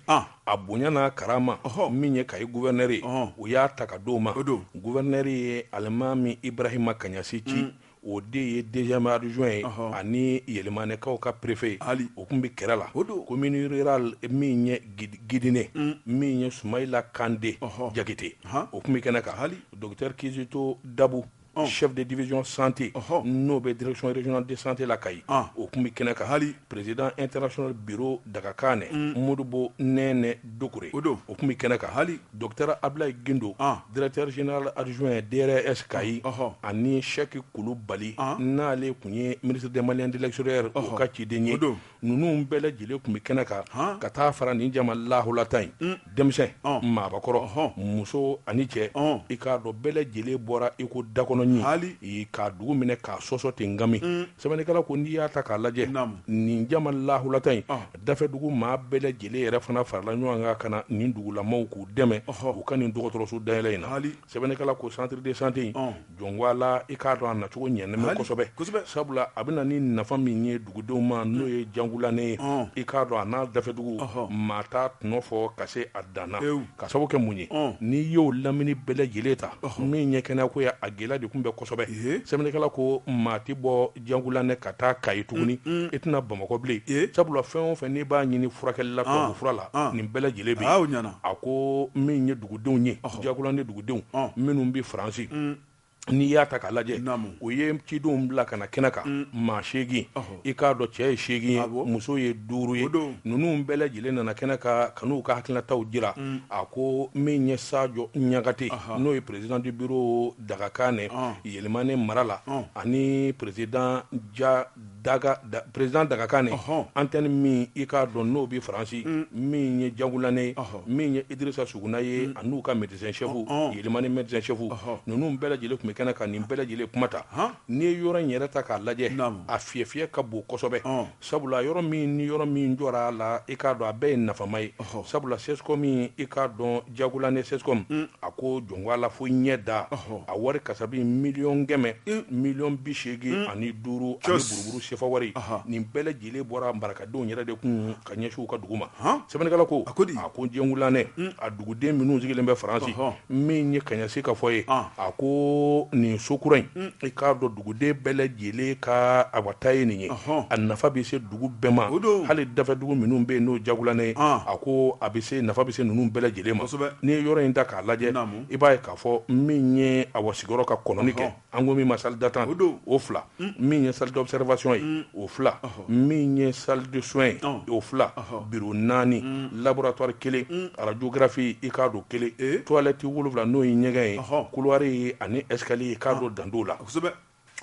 a bonya n'a karama min ye kayi gouverneur ye u y'a ta ka d'o ma o don gouverneur ye alimami ibrahima kaɲasi ci o de ye deuxième adjoint ye ɔhɔ ani Yɛlɛmanɛkaw ka préfet ye hali o kun bɛ kɛrɛ la o don commune rurale min ye Gid Gidime un min ye Sumayila Kande ɔhɔ Jakite han o kun bɛ kɛnɛ kan hali docteur Kizito Dabu ɔn chef de division santé ɔhɔ n'o bɛ direction régionale de santé la Kayi ɔn o kun bɛ kɛnɛ kan hali Président international bureau Dagakanɛ, un, Modibo Nɛɛnɛ Doucouré o don, o kun bɛ kɛnɛ kan, hali Docteur Abdoulaye Guindo, an, Directeur général adjoint DRS Kayi, ɔhɔ, ani Cheick Kulubali, an, n'ale kun ye ministre des Maliens de l'extérieur ɔhɔ, o ka ciden ye, o don, ninnu bɛɛ lajɛlen kun bɛ kɛnɛ kan, han, ka taa fara nin jama lahulata in, un. denmisɛn maabakɔrɔ muso ani cɛ i k'a dɔn bɛɛ lajɛlen bɔra i ko dakɔnɔ ye k'a dugu minɛ k'a sɔsɔ ten ngami sɛbɛnnikɛla ko n'i y'a ta k'a lajɛ nin jama lahulata in dafɛdugu maa bɛɛ lajɛlen yɛrɛ fana farala ɲɔgɔn kan ka na nin dugulamaw k'u dɛmɛ u ka nin dɔgɔtɔrɔso dayɛlɛ in na sɛbɛnnikɛla ko centre de santé in jɔnwala i k'a dɔn a nacogo ɲɛnɛmɛ kosɛbɛ kosɛbɛ sabula a bɛna ni nafa min ye dugudenw ma n'o ye Jangulanɛ ye i k'a dɔn a n'a dafɛdugu maa t'a tɔnɔ fɔ ka se a dan na ka sabu kɛ mun ye n'i y'o lamini bɛɛ lajɛlen ta min ye kɛnɛya ko ye a gɛlɛya de kun bɛ kosɛbɛ sɛbɛnnikɛla ko maa tɛ bɔ Jangulanɛ ka taa Kayi tuguni, un-un, i tɛ na Bamakɔ bilen, ee, sabula fɛn o fɛn n'i b'a ɲini furakɛli la, ɔn, tubabu fura la, ɔn, nin bɛɛ lajɛlen bɛ yen, aa o ɲɛna, a ko min ye dugudenw ye, ɔhɔ, Jangulanɛ dugudenw, ɔn, minnu bɛ Faransi, un, n'i y'a ta k'a lajɛ, naamu, u ye cidenw bila ka na kɛnɛ kan, un, maa seegin, ɔhɔ, i k'a dɔn cɛ ye seegin ye, awɔ, muso ye duuru ye, o don, ninnu bɛɛ lajɛlen nana kɛnɛ kan ka n'u ka hakilinataw jira, un, a ko min ye Sajo Ɲagate, ɔhɔ, n'o ye président du bureau Dagakanɛ Yɛlɛmanɛ mara la ani président président Dagakanɛ antenne min i k'a dɔn n'o bɛ Faransi min ye Jangulanɛ min ye Idrisa Suguna ye a n'u ka médecin chef Yɛlɛmanɛ médecin chef ninnu bɛɛ lajɛlen tun bɛ kɛnɛ kan nin bɛɛ lajɛlen kuma ta n'i ye yɔrɔ in yɛrɛ ta k'a lajɛ a fiyɛfiyɛ ka bon kosɛbɛ Sabula yɔrɔ min ni yɔrɔ min jɔra a la i k'a dɔn a bɛɛ ye nafama ye sabula CSCOM min i k'a dɔn Jangulanɛ CSCOM a ko jɔnko a la fo ɲɛ da a wari kasabi miliyɔn kɛmɛ miliyɔn bi seegin ani duuru ani buruburu sefa wari nin bɛɛ lajɛlen bɔra marakadenw yɛrɛ de kun ka ɲɛsin u ka dugu ma sɛbɛnnikɛla ko a ko a ko Jangulanɛ a duguden minnu sigilen bɛ Faransi min ye Kaɲasi ka fɔ ye a ko nin so kura in i k'a dɔn duguden bɛɛ lajɛlen ka awata ye nin ye a nafa bɛ se dugu bɛɛ ma hali dafɛ dugu minnu bɛ yen n'o Jangulanɛ ye a ko a bɛ se nafa bɛ se ninnu bɛɛ lajɛlen ma n'i ye yɔrɔ in ta k'a lajɛ i b'a ye k'a fɔ min ye a wa sigiyɔrɔ ka kɔnɔni kɛ an ko min ma salle d'attente o fila min ye salle d'observation ye o fila min ye salle de soins ye ɔn o 2 ɔhɔ bureau 4 uun laboratoire 1 uun radiographie i k'a dɔn 1 ee toilette 7 n'o ye ɲɛgɛn ye ɔhɔ couloir ye ani escalier i k'a ɔn dɔn dan t'o la kosɛbɛ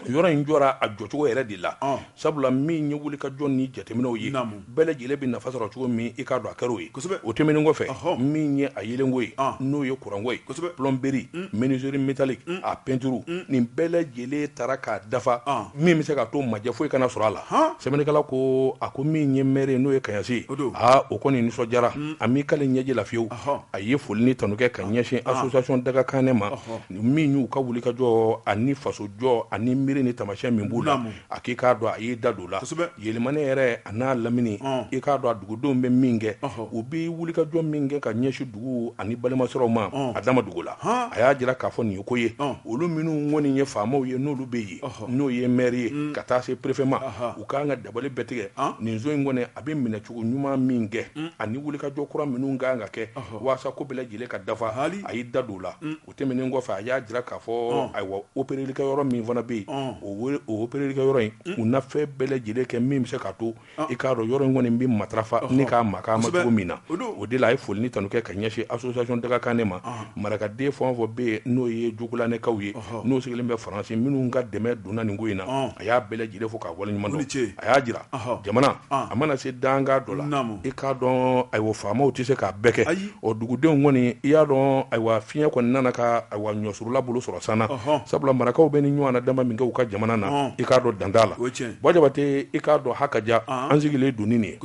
yɔrɔ in jɔra a jɔcogo yɛrɛ de la ɔn sabula min ye wulikajɔ ni jateminɛw ye naamu bɛɛ lajɛlen bɛ nafa sɔrɔ cogo min i k'a dɔn a kɛr'o ye kosɛbɛ o tɛmɛnen kɔfɛ ɔhɔ min ye a yeelenko ye ɔn n'o ye kuranko ye kosɛbɛ plomberie uun menuiserie métallique uun a peinture uun nin bɛɛ lajɛ len taara k'a dafa min bɛ se ka to majɛ foyi kana sɔrɔ a la sɛbɛnnikɛla ko a ko min ye maire n'o ye kasi ye aa o kɔni nisɔndiyara a m'i k'ale ɲɛji la fiyewu a ye foli ni tanu kɛ ka ɲɛsin association Dagakane ma min y'u ka wulikajɔ ani faso jɔ ani miiri ni tamasiyɛn min b'u la a k'i k'a dɔn a y'i da don la yɛlɛmani yɛrɛ a n'a lamini i k'a dɔn a dugudenw bɛ min kɛ u bɛ wulikajɔ min kɛ ka ɲɛsin dugu ani balimasiraw ma a dama dugu la a y'a jira k'a fɔ nin ye ko ye olu minnu kɔni ye faamaw ye n'olu bɛ yen n'o ye maire ye ka taa se préfet ma u k'an ka dabali bɛɛ tigɛ nin so in kɔni a bɛ minɛcogo ɲuman min kɛ ani wuli ka jɔ kura minnu ka kan ka kɛ walasa ko bɛɛ lajɛlen ka dafa hali a y'i da don la o tɛmɛnen kɔfɛ a y'a jira k'a fɔ ayiwa operelikɛ yɔrɔ min fana bɛ yen o operelikɛ yɔrɔ in u na fɛn bɛɛ lajɛlen kɛ min bɛ se k'a to i k'a dɔn yɔrɔ in kɔni bɛ matarafa ni k'a ma cogo min na o de la a ye foli ni tanu kɛ ka ɲɛsin association Dagakane ma marakaden fɛn o fɛn bɛ yen n'o ye jugulakaw ye n'u sigilen bɛ faransi minnu ka dɛmɛ donna nin ko in na a y'a bɛɛ lajɛlen fo k'a waleɲuman dɔn a y'a jira jamana a mana se danga dɔ la i k'a dɔn ayiwa faamaw tɛ se k'a bɛɛ kɛ ayi o dugudenw kɔni i y'a dɔn ayiwa fiɲɛ kɔni nana ka ayiwa ɲɔsurula bolo sɔrɔ san sabula marakaw bɛ nin ɲɔgɔnna dama min kɛ u ka jamana na i k'a dɔn dan t'a la Bon Jabate i k'a dɔn ha ka ja an sigilen don ni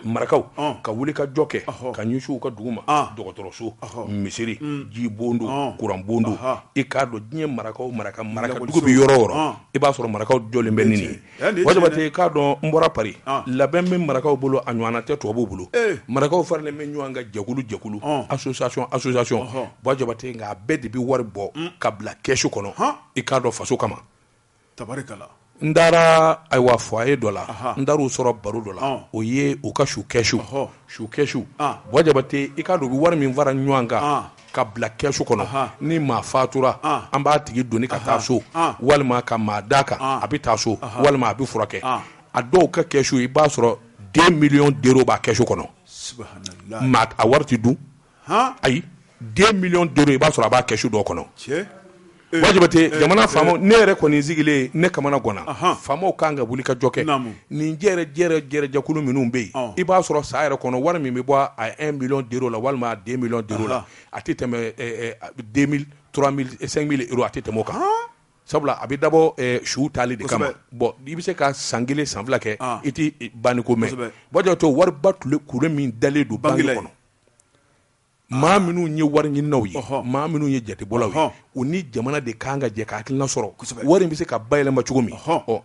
marakaw ka wuli ka jɔ kɛ ka ɲɛsin u ka dugu ma dɔgɔtɔrɔso misiri ji bon don kuran bon don i k'a dɔn diɲɛ marakaw maraka maraka dugu bɛ yɔrɔ o yɔrɔ i b'a sɔrɔ marakaw jɔlen bɛ nin ye bon Jabate i k'a dɔn n bɔra Paris labɛn bɛ marakaw bolo a ɲɔgɔn tɛ tubabuw bolo marakaw faralen bɛ ɲɔgɔn kan jɛkulu jɛkulu association association bon Jabate a bɛɛ de bɛ wari bɔ ka bila kɛsu kɔnɔ i k'a dɔn faso kama tari n taara ayiwa foyer dɔ la n taar'u sɔrɔ baro dɔ la o ye u ka su kɛsu su kɛsu bon Jabate i k'a dɔn u bɛ wari min fara ɲɔgɔn kan ka bila kɛsu kɔnɔ ni maa fatura an b'a tigi doni ka taa so walima ka maa d'a kan a bɛ taa so walima a bɛ furakɛ a dɔw ka kɛsu i b'a sɔrɔ 2 millions d'euros b'a kɛsu kɔnɔ a wari dun ayi deux millions d'euros i b'a sɔrɔ a b'a kɛsu dɔw kɔnɔ Buwa Jabatɛ jamana faamaw ne yɛrɛ kɔni sigilen ne kamana ganna faamaw kan ka wuli ka jɔ kɛ nin jɛjɛkulu minnu bɛ yen i b'a sɔrɔ san yɛrɛ kɔnɔ wari min bɛ bɔ a un million d'euros la walima deux millions d'euros la a tɛ tɛmɛ deux mille trois mille cinq mille euros a tɛ tɛmɛ o kan sabula a bɛ dabɔ su tali de kama bon i bɛ se ka san kelen san fila kɛ i tɛ banni ko mɛn Buwa Jabatɛ wariba tun kulu min dalen don banque kɔnɔ maa minnu ye wari ɲininaw ye maa minnu ye jatebɔlaw ye u ni jamana de kan ka jɛ ka hakilina sɔrɔ wari in bɛ se ka bayɛlɛma cogo min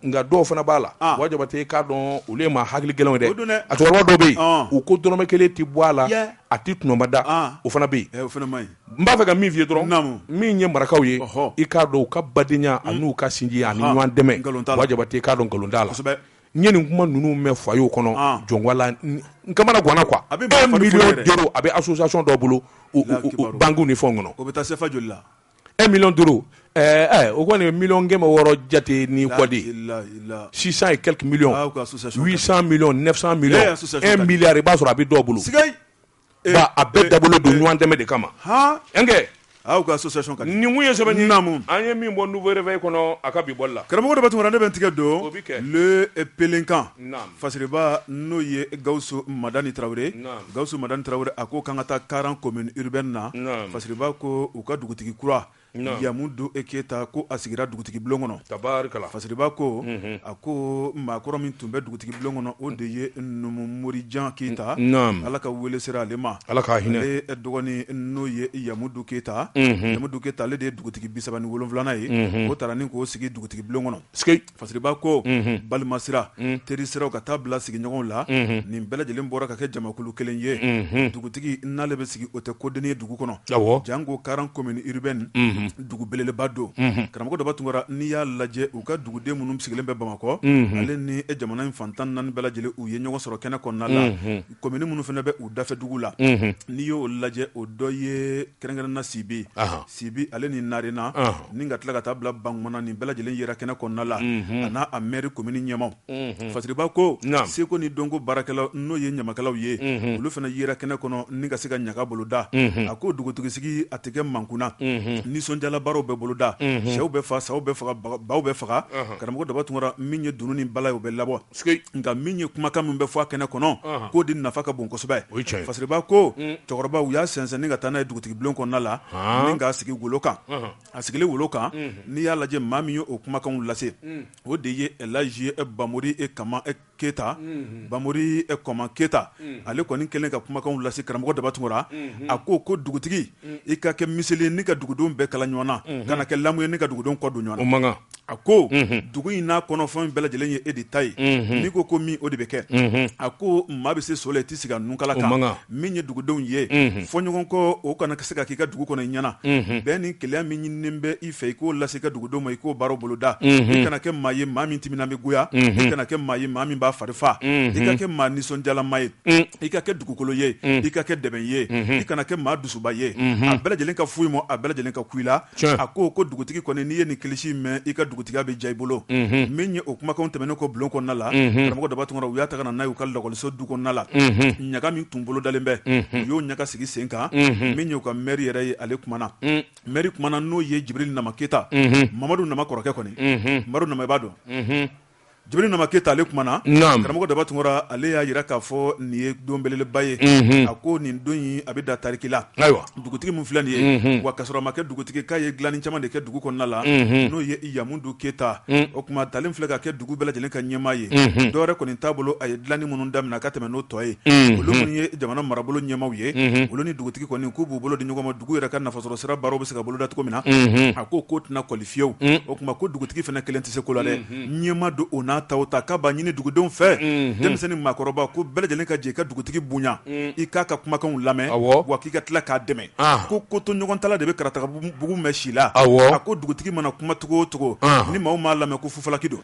nka dɔw fana b'a la Buwa Jabatɛ k'a dɔn olu ye maa hakili gɛlɛnw dɛ a cɛkɔrɔba dɔ bɛ yen u ko dɔrɔmɛ kelen tɛ bɔ a la a tɛ kunba da o fana bɛ yen n b'a fɛ ka min f'i ye dɔrɔn min ye marakaw ye i k'a dɔn u ka badenya a n'u ka sinji ani ɲɔgɔn dɛmɛ Buwa Jabatɛ k'a dɔn nkalon t'a la n ye nin kuma ninnu mɛn fa y'o kɔnɔ jɔnwala kamana ganwa a bɛ a bɛ asonsiy dɔ bolo ban ni fɛn kɔnɔ o bɛ taa joli la e mi duuru o kɔni mikɛ ma wɔɔrɔ jate ni kɔden sisan ye kɛlɛkimi mi mi e mi i b'a sɔrɔ a bɛ dɔ bolo a bɛɛ dabɔlen don ɲɔgɔn dɛmɛ de kama makɛ aw ka association ninnu ye sɛbɛn nin namu an ye min bɔ Nouveau Réveil kɔnɔ a ka bi bɔli la karamɔgɔ Daba Tunkara ne bɛ n tigɛ don Le Pélican Fasiriba n'o ye Gawusu Madani Tarawele Gawusu Madani Tarawele a ko k'an ka taa Karan commune urbaine na Fasiriba ko u ka dugutigi kura Yamudu e Keyita ko a sigira dugutigi bulon kɔnɔ tabarikala Fasiriba ko a ko maakɔrɔ min tun bɛ dugutigi bulon kɔnɔ o de ye Numu Morijan Keyita ala ka wele sera ale ma ala ka hinɛ ale dɔgɔnin n'o ye Yamudu Keyita Yamudu Keyita ale de ye dugutigi bisaba ni wolonwulanan ye o taara ni k'o sigi dugutigi bulon kɔnɔ Fasiriba ko balima sira teri siraw ka taa bila sigiɲɔgɔn la nin bɛɛ lajɛlen bɔra ka kɛ jamakulu kelen ye dugutigi n'ale bɛ sigi o tɛ kodennin ye dugu kɔnɔ janko Karan commune urbaine dugu belebeleba don karamɔgɔ Daba Tunkara n'i y'a lajɛ u ka duguden minnu sigilen bɛ Bamakɔ ale ni jamana in fantan naani bɛɛ lajɛlen u ye ɲɔgɔn sɔrɔ kɛnɛ kɔnɔna la commune minnu fana bɛ u dafɛ dugu la n'i y'o lajɛ o dɔ ye kɛrɛnkɛrɛnna Sibi Sibi ale ni Narena ni ka tila ka taa bila Bankumana nin bɛɛ lajɛlen yera kɛnɛ kɔnɔna la a n'a a maire commune ɲɛmaaw Fasiriba ko seko ni dɔnko baarakɛlaw n'o ye ɲamakalaw ye olu fana yera kɛnɛ kɔnɔ ni ka se ka ɲaga boloda a ko dugutigisigi a tɛ kɛ mankun na nisɔndiyalabaaraw bɛ boloda sɛw bɛ faa saw bɛ faga baw bɛ faga karamɔgɔ Daba Tunkara min ye dunun ni bala ye o bɛ labɔ. nka min ye kumakan min bɛ fɔ a kɛnɛ kɔnɔ k'o de nafa ka bon kosɛbɛ fasiriba ko cɛkɔrɔba u y'a sɛnsɛn ka taa n'a ye dugutigi bulon kɔnɔna la ni k'a sigi wolo kan a sigilen wolo kan n'i y'a lajɛ maa min ye o kumakanw lase o de ye ɛlaji bamori kama keyita bamori kɔma keyita ale kɔni kɛlen ka kumakanw lase karamɔgɔ daba tunkara a ko ko dugutigi i ka kɛ miseli ye ni ka dugudenw bɛɛ kala ɲɔgɔn na kana kɛ lamu ye ni ka dugudenw kɔ don ɲɔgɔn a ko dugu in n'a kɔnɔfɛn bɛɛ lajɛlen ye e de ta ye n'i ko ko min o de bɛ kɛ a ko maa bɛ se so la i tɛ sigi a nunkala kan min ye dugudenw ye fɔ ɲɔgɔn kɔ o kana se ka k'i ka dugu kɔnɔ i ɲɛ na bɛn ni kelenya min ɲininen bɛ i fɛ i k'o lase i ka dugudenw ma i k'o baara boloda i kana kɛ maa ye maa min timinan bɛ goya i kana kɛ maa ye maa min b'a fari fa i ka kɛ maa nisɔndiyalama ye i ka kɛ dugukolo ye i ka kɛ dɛbɛn ye i kana kɛ maa dusuba ye a bɛɛ lajɛlen ka fo i ma a bɛɛ lajɛlen ka kun i la a ko ko dugutigi kɔni n'i ye nin kilisi mɛn i ka dugutigiya bɛ ja i bolo min ye o kumakanw tɛmɛnen kɔ bulon kɔnɔna la karamɔgɔ daba tunkara u y'a ta ka na n'a y'u ka lakɔliso du kɔnɔna la ɲaga min tun bolodalen bɛ u y'o ɲaga sigi sen kan min y'u ka mɛri yɛrɛ ye ale kumana mɛri kumana n'o ye jibiri nama keta mamadu nama kɔrɔkɛ kɔni madu nama b'a dɔn Jibiri Nama Keyita ale kumana, naamu, karamɔgɔ Daba Tunkara ale y'a jira k'a fɔ nin ye don belebeleba ye, unhun, a ko nin don in a bɛ da tariki la, ayiwa, dugutigi min filɛ nin ye, unhun, wa kasɔrɔ a ma kɛ dugutigi k'a ye dilanni caman de kɛ dugu kɔnɔna la, unhun, n'o ye Yamudu Keyita, un, o tuma a talen filɛ ka kɛ dugu bɛɛ lajɛlen ka ɲɛmaa ye, unhun, dɔ wɛrɛ kɔni t'a bolo a ye dilanni minnu daminɛ ka tɛmɛn n'o tɔ ye, unhun, olu minnu ye jamana marabolo ɲɛmaaw ye, unhun, olu ni dugutigi kɔni k'u b'u bolo di ɲɔgɔn ma dugu yɛrɛ ka nafasɔrɔsira baaraw bɛ se ka boloda cogo min na, unhun, a k'o ko tɛna kɔli fiyewu o tuma ko dugutigi fana kelen tɛ se ko la dɛ ɲɛmaa don o n'a ta o ta k'a b'a ɲini dugudenw fɛ denmisɛnnin maakɔrɔba ko bɛɛ lajɛlen ka jɛ i ka dugutigi bonya i k'a ka kumakanw lamɛn wa k'i ka tila k'a dɛmɛ ko kotoɲɔgɔntala de bɛ karatagabugu mɛn si la a ko dugutigi mana kuma cogo o cogo ni maaw m'a lamɛn ko fufalaki don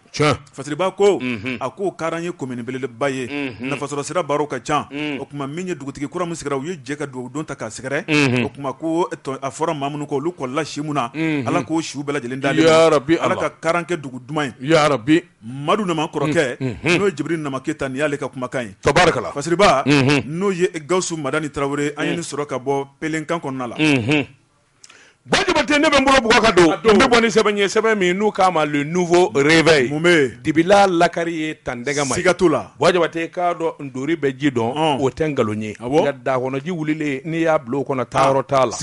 Fasiriba ko a ko karan ye komini belebeleba ye nafasɔrɔsira baaraw ka ca o tuma min ye dugutigi kura min sigira u ye jɛ ka dugawu don ta k'a sɛgɛrɛ o tuma ko a fɔra maa minnu kɔ olu kɔlila si min na ala k'o siw bɛɛ lajɛlen da a ye ala ka karan kɛ dugu duman ye yarabi madu nama kɔrɔkɛ n'o ye jibiri nama keyita nin y'ale ka kumakan ye tabarikala fasiriba n'o ye gawusu madani tarawele an ye nin sɔrɔ ka bɔ pelenkan kɔnɔna la Ba Jabatɛ ne bɛ n bolo bugɔ ka don n bɛ bɔ ni sɛbɛn ye sɛbɛn min n'u k'a ma le nouveau réveil dibila lakari ye tan dɛgɛ ma siga t'o la ba jabatɛ k'a dɔn ntori bɛ ji dɔn o tɛ nkalon ye nka daga kɔnɔji wulilen n'i y'a bila o kɔnɔ taayɔrɔ t'a la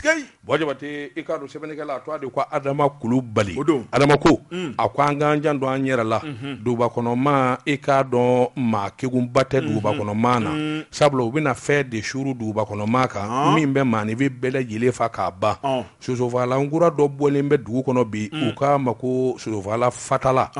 ba jabatɛ i k'a dɔn sɛbɛnnikɛla a tɔgɔ de ko adama kulubali adama ko a ko an k'an jan don an yɛrɛ la dugubakɔnɔmaa i k'a dɔn maa kegunba tɛ dugubakɔnɔmaa na sabula u bɛna fɛn de suuru duguba kɔnɔ maa kan ah. min bɛ maanifin bɛɛ lajɛlen fa k'a ban ah. sosofagalan kura dɔ bɔlen bɛ dugu kɔnɔ bi mm. u k'a ma ko sosofagalan fatala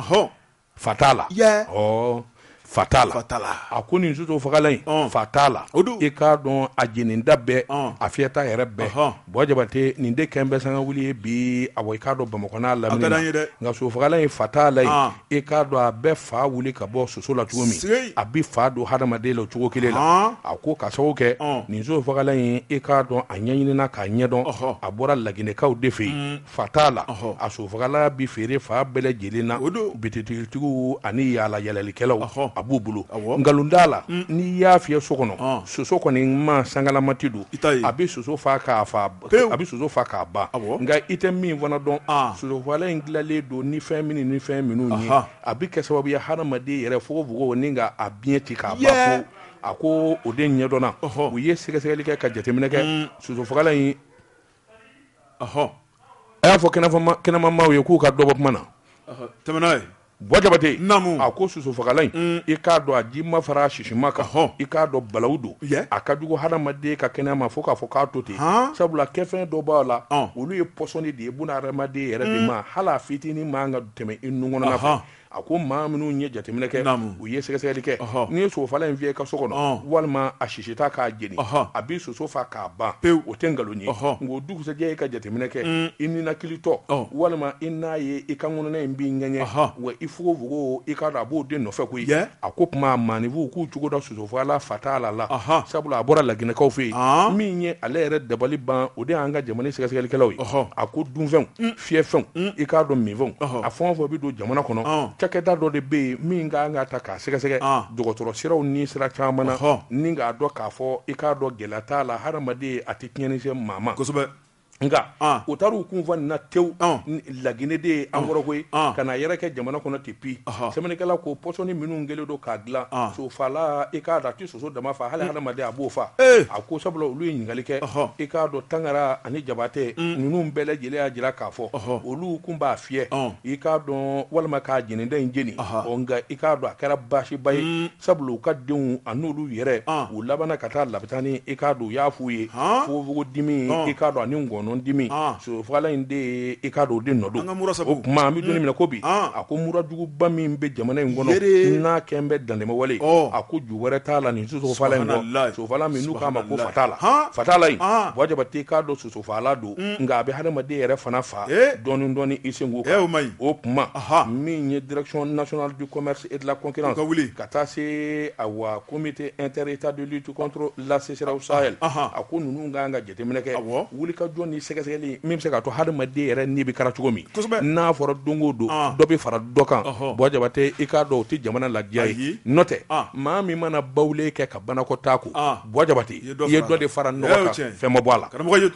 fatala ɔ fatala a ko nin sosofagalan in fatala i k'a dɔn a jenita bɛɛ a fiyɛta yɛrɛ bɛɛ Buwa Jabate nin de kɛlen bɛ sanga wuli ye bi a i k'a dɔn Bamakɔ n'a lamini nka sosofagalan in fatala in i k'a dɔn a bɛ fa wuli ka bɔ soso la cogo min a bɛ fa don hadamaden la cogo kelen la a ko ka sababu kɛ nin sosofagalan in i k'a dɔn a ɲɛɲinina k'a ɲɛdɔn a bɔra laginɛkaw de fɛ yen fatala a sosofagalan bɛ feere fan bɛɛ lajɛlen na o don bitigitigiw ani yaalayaalalikɛlaw a b'u bolo nkalon t'a la n'i y'a fiyɛ so kɔnɔ soso kɔni ma sangalamati don a bɛ soso faa a bɛ soso faa k'a ban nka i tɛ min fana dɔn sosofalan in dilanlen don ni fɛn min ni fɛn minnu ye a bɛ kɛ sababu ye hadamaden yɛrɛ fogofogo ni k'a biɲɛ ci k'a ban a ko o de ɲɛdɔnna u ye sɛgɛsɛgɛli kɛ ka jateminɛ kɛ sosofalan in ɔhɔ a y'a fɔ kɛnɛma maaw ye k'u ka dɔ bɔ kuma na ɔhɔ tɛmɛ n'a ye Buwa Jabate Naamu. a ko sosofagalan in i k'a dɔn a jima fara a sisima kan Ɔhɔ. i k'a dɔn balawu don Yɛ. a ka jugu hadamaden ka kɛnɛya ma fo k'a fɔ k'a to ten Han. sabula kɛfɛn dɔ b'a la Ɔn. olu ye pɔsɔni de ye buna hadamaden yɛrɛ de ma hali a fitinin man kan ka tɛmɛ i nun kɔnɔna fɛ Ɔhɔ. A ko maa minnu ye jateminɛ kɛ u ye sɛgɛsɛgɛli kɛ n'i ye sosofalan in fiyɛ i ka so kɔnɔ walima a sisita k'a jeni a bɛ soso fa k'a ban pewu o tɛ nkalon ye nka dugusɛjɛ i ka jateminɛ kɛ i ninakilitɔ walima i n'a ye i ka ngɔnɔna in b'i ŋɛɲɛ wa i fogofogo i k'a dɔn a b'o de nɔfɛ koyi a ko tuma maanifinw k'u cogo da sosofalan fatala la sabula a bɔra laginɛkaw fɛ yen min ye ale yɛrɛ dabali ban o de y'an ka jamana sɛgɛsɛgɛlikɛlaw ye a ko dunfɛnw fiyɛfɛnw i k'a dɔn minfɛnw a fɛn o fɛn bɛ don jamana kɔnɔ cakɛda dɔ de bɛ yen min ka kan k'a ta k'a sɛgɛsɛgɛ dɔgɔtɔrɔ siraw ni sira caman na ni k'a dɔn k'a fɔ i k'a dɔn gɛlɛya t'a la hadamaden a tɛ tiɲɛni se maa ma kosɛbɛ nka u taara u kun fɔ nin na ten laginɛ de ye an kɔrɔ koyi ka na yɛrɛkɛ jamana kɔnɔ ten pi sɛbɛnnikɛla ko pɔsɔni minnu kɛlen don k'a dilan sosofalan i k'a soso dama fa hali hadamaden a b'o fa eh. a ko sabula olu ye ɲininkali kɛ i k'a dɔn Tangara ani Jabate mm. ninnu bɛɛ lajɛlen y'a jira k'a fɔ olu kun b'a fiyɛ i k'a dɔn walima k'a jenita in jeni nka i k'a dɔn a kɛra baasiba ye mm. sabula u ka denw a n'olu yɛrɛ u labanna ka taa labitani i k'a dɔn u y'a f'u ye fogofogo dimi i k'a dɔn ani ngɔnɔ dimi sosofagalan in de ye i k'a dɔn o de nɔ don o tuma an bɛ don min na i ko bi a ko mura juguba min bɛ jamana in kɔnɔ n'a kɛlen bɛ dantɛmɛwale a ko ju wɛrɛ t'a la nin sosofala min n'u k'a ma ko fatala fatala buwa jabate i k'a dɔn sosofala don nka a bɛ hadamaden yɛrɛ fana fa dɔɔni dɔɔni i sen ma o kuma min ye direction nationale du commerce et de la concurrence ka taa se awa comité inter-états de lutte contre la sécheresse au sahel a ko ninnu ka kan ka jateminɛ kɛ wulikajɔ ni sɛgɛsɛgɛli min bɛ se k'a to hadamaden yɛrɛ ni bɛ kana cogo min n'a fɔra don o don dɔ bɛ fara dɔ kan buwa jabate i k'a dɔn o tɛ jamana ladiya ye n'o tɛ maa min mana bawulen kɛ ka banakɔtaa ko buwa jabate i ye dɔ de fara nɔgɔ kan fɛn ma bɔ a la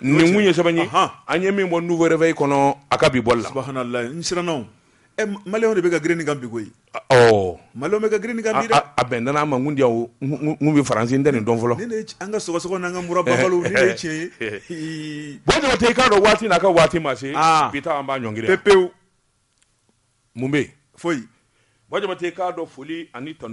nin kun ye sɛbɛn ye an ye min bɔ nouveau réveil kɔnɔ a ka bi bɔli la n siranna maliyɛnw de bɛ ka girin nin kan bi ko ɔ maliyɛnw bɛ ka girin nin kan bi a bɛn n a ma kun di n bɛ faransi n tɛ nin dɔn fɔlɔ an ka sɔgɔsɔgɔ n'an ka mura tiɲɛ ye buwa jabate i k'a dɔn waati n'a ka waati ma se bi ta an b'a ɲɔn pe pewu mun bɛ foyi buwa jabate i k'a dɔn foli ani tan